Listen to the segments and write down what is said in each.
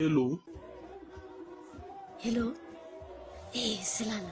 Hello. Hello. Ee, Selala.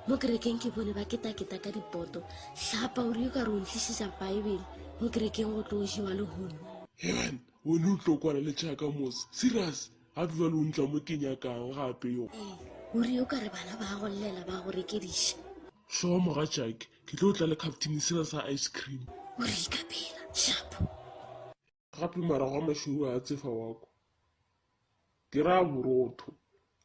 Mo kerekeng ke bone ba ketaketa ka dipoto. Hlapa o rile ka re o ntlišiša Baebele mo kerekeng go tlo o jewa le hone. Heban, o ne o tlo kwana le tšhaka mose. Serious? Ga ke jwale o ntla mo ke nyakang gape yo. Ee, o rile o ka re bana ba go llela ba go rekediša. Sure, moga tšake. Ke tlo tla le captain sela sa ice cream. O re ikapela. Hlapa. gape morago a mašoro a tsefa wa kwa ke ra borotho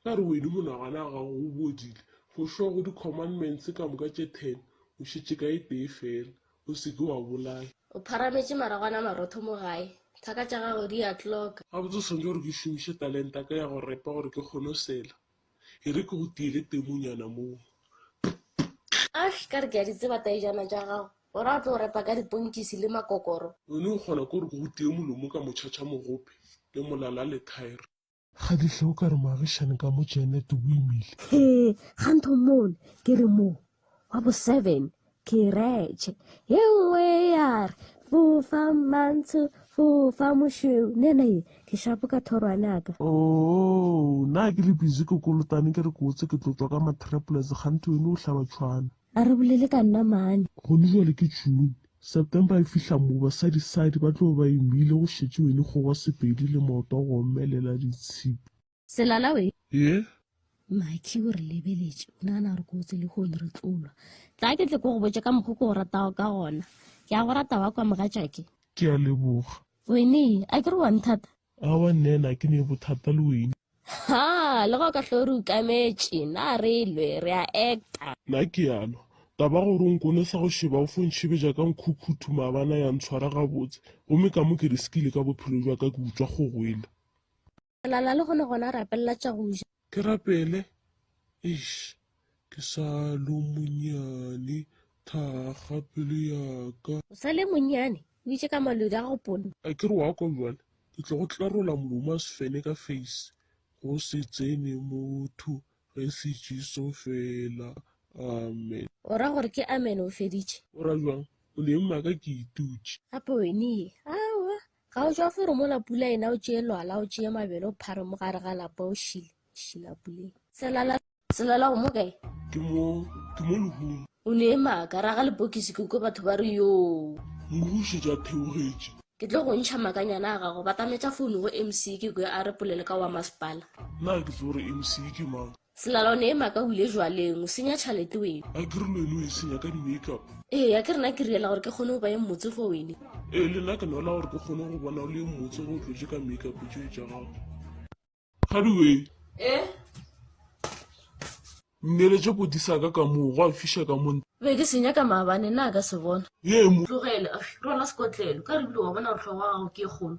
ka re wene monagana ga gago o bodile go šwa go di-commandments ka moka tše ten o šetše ka e tee fela o seke wa bolaya o pharametše maragwana marotho mo gae thaka tša gago di a tloka gabotse o swanetše gore ke šomiše talenta ka ya go repa gore ke kgone go sela E re ke go tiele temonyana moo. Ash, ka re ke a di tseba taejana tša gago. O ra o tlo repa ka diponkisi le makokoro. O ne o kgona ko re ke go tie molomo ka motšhatšha mogope le molala le thaere. Kgadihle o ka re moagišane ka mo Janet o imile. Hee, ga ntho mmone, ke re moo. wa bo seven kiretšhe ye nngwe ya re fofa mantsho fofa mošweu nena ye ke shapo ka thorwane aka o oh, na ke le busy ke kolotane ke re ke otse ke tlotswa ka matraples gante yone o hlaba tshwana a re bolele ka nna mane gone jale ke june september e fihla mo basadisadi ba tlo ba emile go šetše wene kgogo sepedi le maoto a go omelela ditshipi Selala we. Ye? Makhi o re lebeletše, o nagana gore ko o tsele go re tlolwa. Tla ke tle ko go botše ka mokgo ko o ratago ka gona. Ke a go rata wa kwa mogatšake. Ke a leboga. Wene, a ke re wa nthata? Awa nne na ke ne bothata le wene. Ha, le go ka hlo re ukametše, na re lwe, re a acta. Na ke a lwa? Taba gore o nkonesa go šeba o fo ntšhebeja ka nkhukhuthu maabana ya ntshwara gabotse, gomme ka mo ke riskile ka bophelo bja ka ke utswa kgogo yela. Lala le gone gona rapelela tša go ja. Ke rapele? Eish, ke sa lo monyane, thakga pelo ya ka. O sa le monyane? O itše ka malodu a go ponna. A ke re wa kwa bjale? Ke tlo go tlarola molomo a sefene ka face. Go se tsene motho ge se Jesu fela. Amen. O ra gore ke amen o feditše? O ra bjang? O le ema ka ke itutše. Gape wene ye? Aowa, Ga o jwa foro mola pula ena o tšee lwala o tšee mabele o phare mo gare ga lapa o šile šila puleng. Selala selala go mo kae? Ke mo ke mo lehung. O ne e maka raga lepokisi ke kwe batho ba re yoo. Moruši ja theogetše. Ke tlo go ntšha makanyana a gago batametša founu go MC ke kwe a re polele ka wa masepala. Na ke tse gore MC ke mang? Selala o ne e maka o ile jwaleng, o senya tšhalete wene. A ke re lwene o e senya ka di-make up? Ee, a ke rena ke riela gore ke kgone go ba e mmotse go wene. Ee, le nna ke nwela gore ke kgone go bona o le e mmotse go tlotše ka make up tšoe tša gago. Kgaduweng. Ee. Nneletše koti sa ka ka moo, gwa fiša ka mo. Be ke senya ka maabane, na ka se bona? Ye e mo. Tlogele, rwala sekotlelo, ka re bile wa bona gore tlhogo wa gago ke e kgolo.